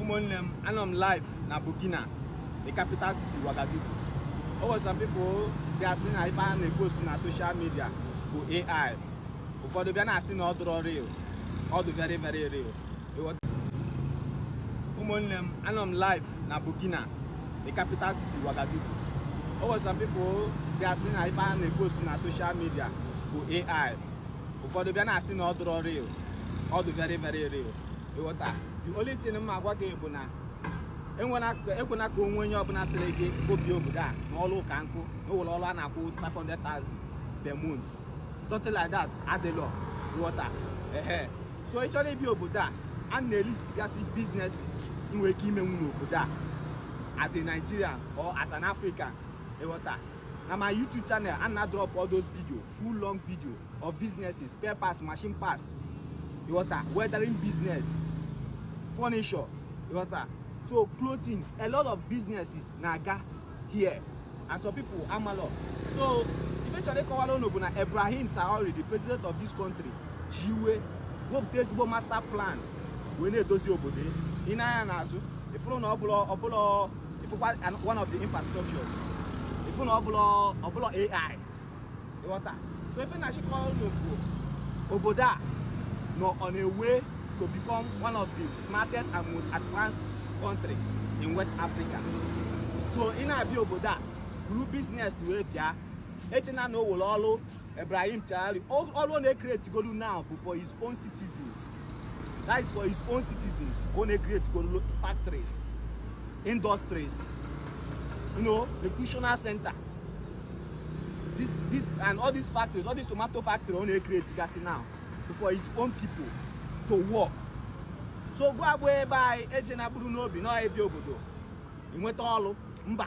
ụmụnne m anọ m live na Burkina the capital city Ouagadougou o nwere some people bịa sị na ife a na-epost na social media bụ AI ụfọdụ bịa na-asị na ọ dụrọ real ọ dị very very real ụmụnne m anọ m live na Burkina the capital city Ouagadougou o nwere some people bịa sị na ife a na-epost na social media bụ AI ụfọdụ bịa na-asị na ọ dụrọ real ọ dị very very real ịghọta the only thing m agwa gị bụ na ekwena ka o nwee onye ọbụla sịrị gị bịa obodo a na ọrụ ka nkụ na o nwere ọrụ a na-akwụ 500,000 per month something like that adịlọ ịghọta ehe so ị chọrọ ịbịa obodo a ana m elistgasị businesses ị nwere ike imenwu n'obodo a as a Nigerian or as an African ịghọta na my YouTube channel ana m adrọpụ all those videos full long video of businesses spare parts machine parts ịghọta welding business furniture ịghọta so clothing a lot of businesses na-aga here and some people amalọ so ife m chọrọ ịkọwara unu bụ na Ibrahim Traore the president of this country ji iwe wepụta ezigbo master plan wee na-edozi obodo i nee anya n'azụ ị fụrụ na ọ bụlọ ọ bụlọ ị fụkwa one of the infrastructures ị fụ na ọ bụlọ ọ bụlọ AI ịghọta so ife m na-achọ ịkọlọ unu bụ obodo a nọ on a way to become one of the smartest and most advanced country in west africa so ị na-abịa obodo a buru business wee bịa echena na o nwere ọrụ Ibrahim Traore ọrụ ọ na-ekreti godu now bụ for his own citizens that is for his own citizens ọ na-ekreti go factories industries you know recreational center this this and all these factories all these tomato factory ọ na-ekreti gasị now for his own people to work so gịwa bụ onye be anyị ejena buru n'obi na ị bịa obodo i nweta ọlụ mba